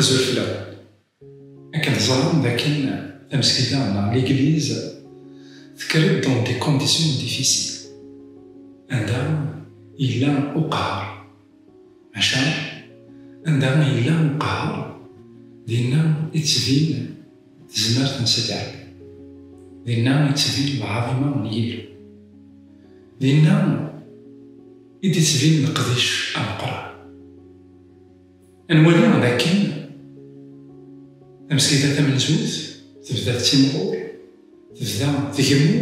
Azufla. Akken teẓram dakken tamesgida neɣ ligliz tekker-d dans des conditions difficiles anda yella uqhar. Maca, anda i yella uqehher, dinna i d-tbin tezmert n Sidi Rebbi, dinna i d-tbin lɛaḍima n Yillu, dinna i d-ittbin leqdic ameqqran. Ad nwali d akken tamesgida tamenzut tebda tettimɣur, tebda tgemmu,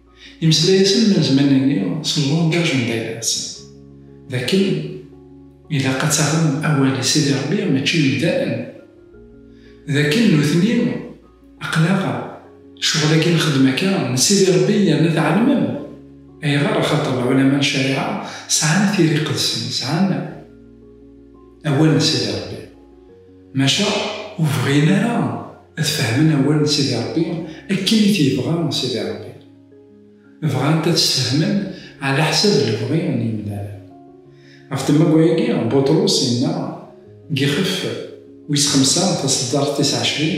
Imeslay-asen ma zman-nni s llangaj n dayra-nsen, d akken ilaq ad taɣem awal i Sidi Ṛebbi mačči i yemdanen, d akken nutni aql-aɣ ccɣel-agi nxeddem akka n Sidi Ṛebbi yerna tɛelmem ayɣer axaṭer lɛulama n ccariɛa sɛan tira iqedsen, sɛan awal n Sidi Ṛebbi. Maca ur bɣin ara ad fehmen awal n Sidi Ṛebbi akken i t-yebɣa Sidi Ṛebbi. Bɣant ad sfehmen ɛlaḥsab lebɣi n yemdanen. Ɣef temmawa-agi, Buṭrus yenna deg Ixef wis xemsa taṣeddart tis ɛecrin.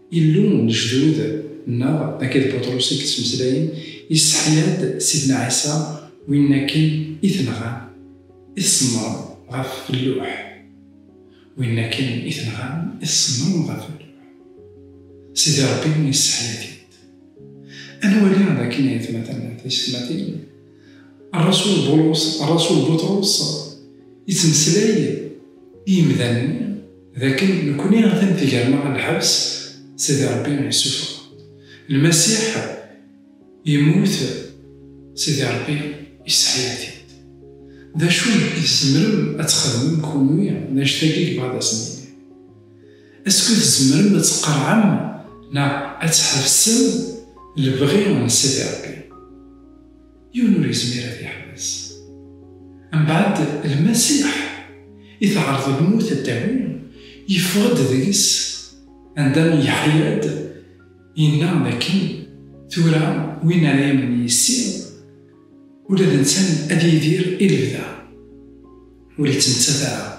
Illu n lejdud nneɣ, akka d Buṭrus i yettmeslayen, yesseḥya-d Sidna Ɛisa win akken i t-nɣan, i tṣemmrem ɣef lluḥ. Win akken i t-nɣan, i tṣemmrem ɣef lluḥ. Sidi Ṛebbi yesseḥya-t-id. Ad nwali d akken ayetmaten d tiysetmatin, Ṛrasul Bulus, Ṛrasul Buṭrus, yettmeslay i yemdanen-nni, D akken nekkni atan tger-neɣ ɣer lḥebs, Sidi Ṛebbi yessufeɣ. Lmasiḥ yemmut, Sidi Ṛebbi yesseḥya-t-id. D acu i tzemrem ad txedmem kunwi d annect-agi i yebɣa ad asen-yini? Esku tzemrem ad tqerɛem neɣ ad tḥebsem lebɣi n Sidi Ṛebbi? yiwen ur yezmir ad yeḥbes. Mbeɛd Lmasiḥ i teɛreḍ lmut a d-tawi, yeffeɣ-d deg-s, anda yeḥya-d, yenna dakken, Tura win ara yamnen yis-i, ula d netta ad yidir i lebda, ur yettmettat ara.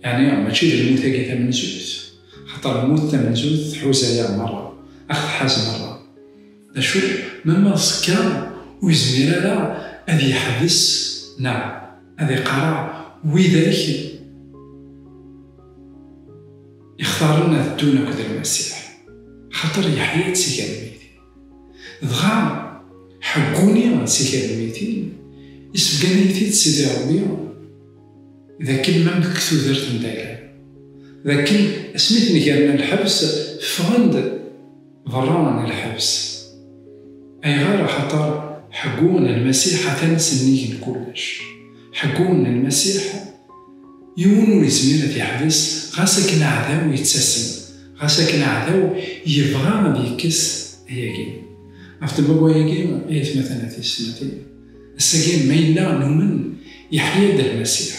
Yeɛni mačči d lmut-agi tamenzut, axaṭer lmut tamenzut tḥuza-yaɣ merra, aɣ-tḥaz merra. D acu ma ma ẓekka ur yezmir ara ad yeḥbes neɣ ad iqarreɛ widak ixtaren ad ddun akked Lmasiḥ? Axaṭer yeḥya-d si gar lmeyytin. Dɣa ḥegguni si gar lmeyytin, isebgan-iyi-t-id Sidi Ṛebbi, d akken ma nekk tudert n Dagam, d akken asmi ten-gerna lḥebs, ffɣen-d. Berra n lḥebs. Ayɣer? Axaṭer ḥeggu n Lmasiḥ atan sennig n kullec. Ḥeggu n Lmasiḥ, yiwen ur yezmir ad t-yeḥbes, ɣas akken aɛdaw yettasem, ɣas akken aɛdaw yebɣa ad yekkes ayagi. Af-d ma wayagi, ay atmaten a tiyessetmatin, ass-agi ma yella numen, yeḥya-d Lmasiḥ.